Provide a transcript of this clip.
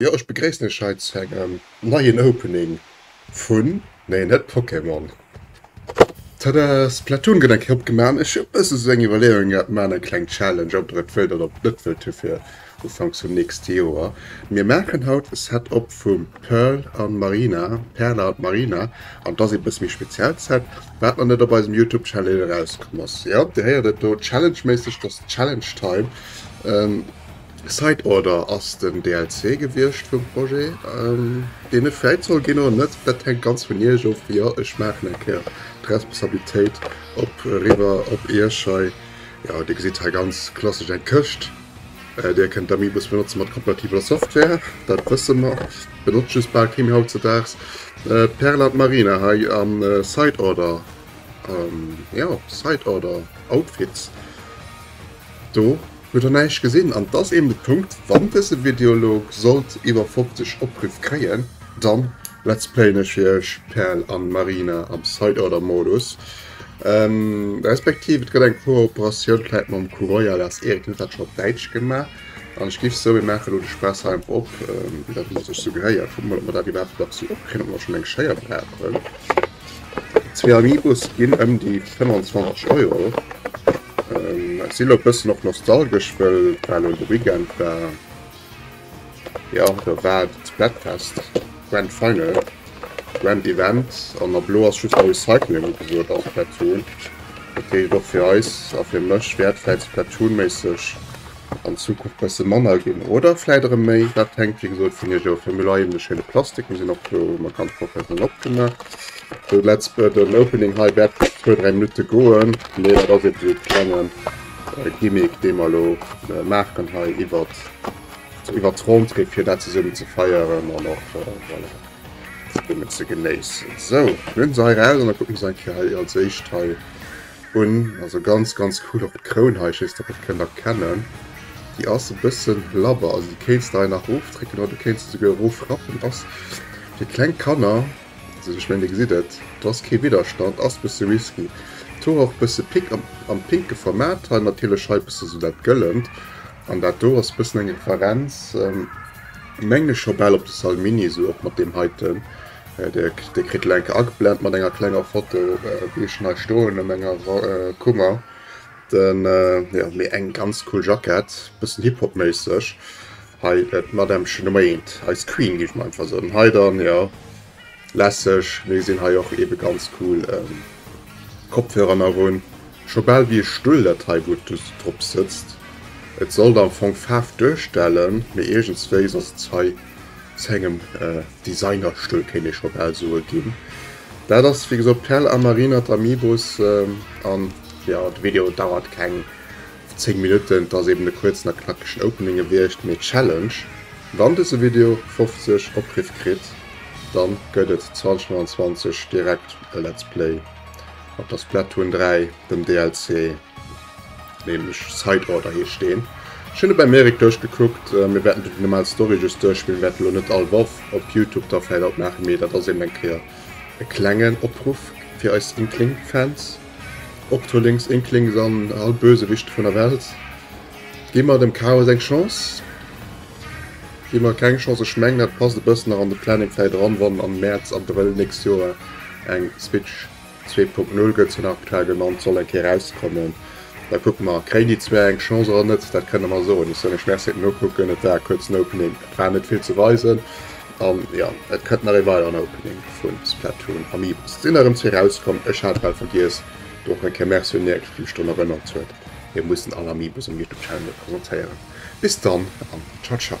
Jo ech begréissen iech hei zu engem neien Opening vun, nee net Pokémon, tada, Splatoon gëtt eng Kéier opgemaach an ech hu bëssen esou eng Iwwerleeung gehat, maachen eng kleng Challenge ob der et wëllt oder ob der et net wëllt hu fir Ufanks vum nächste Joer. Mir maachen haut e Set op vum Pearl an Marina, Perla an d'Marina, an et ass ee bësse méi speziellt Set wat nach net op eisem Youtube Channel erauskomm ass. Jo dir héiert et do, Challenge méisseg, et ass Challenge Time, Side Order ass den DLC gewiescht vum Projet, deen net fräit soll ginn oder net, dat hänkt ganz vun iech of. Jo, ech maachen eng Kéier d'Responsabilitéit op eriwwer op iech hei. Jo, dir gesitt hei ganz klassesch eng Këscht, där kënnt d'Amiibos benotzen mat kompatibler Software, dat wësse mer, benotzt just bal kee méi hautzedaags. D'Perla, d'Marina hei a Side Order, jo, Side Order Outfits do. Huet der näischt gesinn? An d'ass eben de Punkt, wann dëse Video elo sollt iwwer 50 Opruff kréien, dann let's playen ech fir iech Pearl an Marina am Side Order Modus, respektiv et gëtt eng Kooperatioun vläit mam Kuroiwa, dat ass Erik, den huet dat scho op Däitsch gemaach, an ech giff sou, mir maachen elo de Spaass hei einfach op, wéi dat elo sech sou gehéiert. Kucke mol, ob mer dat iwwerhaapt nach sou opkréien, ob mer schonn eng Schéier brauchen. Zwee Amiibos ginn ëm déi 25 Euro. Ech si lo bëssen och nostalgesch, wëll et war lo de Weekend war, jo do war d'Splatfest, Grand Final, Grand Event an ab elo ass just Recycling ugesot a Splatoon. Dat heescht och fir eis a fir mech wäert vläit Splatoon-méisseg an Zukunft bessen manner gin oder vläit erem méi, daat hänkt wéi gesoot vun iech of. Hei hun mer eben de schéine Plastik, mir sin och do mat ganz professionell opgemacht. Sou let's but an opening hei wärt zwou dräi Minuten goen, mee daat ass eben sou e klengen Gimmick deen mer lo maachen hei iwwert iwwert d'Rentrée fir daat zesummen ze feieren an och voilà zesummen ze genéissen. Sou, mir hun se hei raus an da kucken mer se eng Kéier hei als éischt hei. un, also ganz ganz cool, och d'Kroun hei, ech weess net ob der d'kennt erkennen, déi ass e bëssen labber, also déi kéints de hei nach ofdrécken oder du kéints se souguer erofrappen, ass fir kleng Kanner, also ech mengen dir gesitt et, do ass kee Widderstand, ass e bësse risky, et hu och e bësse Pick am pinke Format, hei natierlech hei e bësse sou dat Gëllent an dat do ass e bëssen eng Referenz, mengen ech, scho bal op de Salmini, sou och mat deem heiten. Dir kritt elo enk ageblent mat enger klenger Foto wéi ech nei stoen an menger Kummer den jo mee eng ganz cool Jackett bëssen Hip-Hop méisseg hei et Madämmchen Meint eis Queen géif mer einfach soen hei dann jo lässeg mee sinn hei och ebe ganz cool Kopfhörer nach un scho bal wéi e Stull dat hei wou du drop sëtzt et sollt am Fong Faarf duerstellen mee iergendswéi soss ass hei. Zu engem Designerstull kéint ee scho bal soe ginn. Dat ass wéi gesot Perl a Marina, d'Amiibos. An jo, de Video dauert keng 10 Minutten, et ass eben e kuerzen a knackegen Opening gewiescht. Mee Challenge, wann dëse Video 50 Opriff kritt, da gëtt et 2025 direkt e Let's Play mat der Splatoon 3, dem DLC. Nämlech Side Order heescht deen. Ech hunn e beim Eric duerchgekuckt. Mir wäerten do déi normal Story just duerchspillen, wäerten elo net all Woch op Youtube da vläicht alt maachen, mee dat ass eben eng Kéier e klengen Opruff fir eis Inkling-Fans. Octolings, Inklings an all Bösewichte vun der Welt, gi mer dem Chaos eng Chance. Gi mer keng Chance, ech mengen dat passt e bëssen nach an de Planning vläicht eran, wann am Mäerz, Abrëll nächst Joer eng Switch. 2.0 gëtt se nach klar genannt, soll eng Kéier erauskommen. Da kucke mer, kréien déi zwee eng Chance oder net, dat kënne mer soen. Ech soen lech Merci fir den Nokucken. Et war e kuerzen Opening, et war net vill ze weisen. An jo, et kënnt nach ee weideren Opening vu Splatoon Amiibos. Et sinn nach erëm zwee erauskomm. Ech hat bal vergiess, do och eng Kéier Merci un Nierk, dee mech drun erënnert huet, mir mussen all Amiibos um Youtube Channel presentéieren. Bis dann an Ciao Ciao.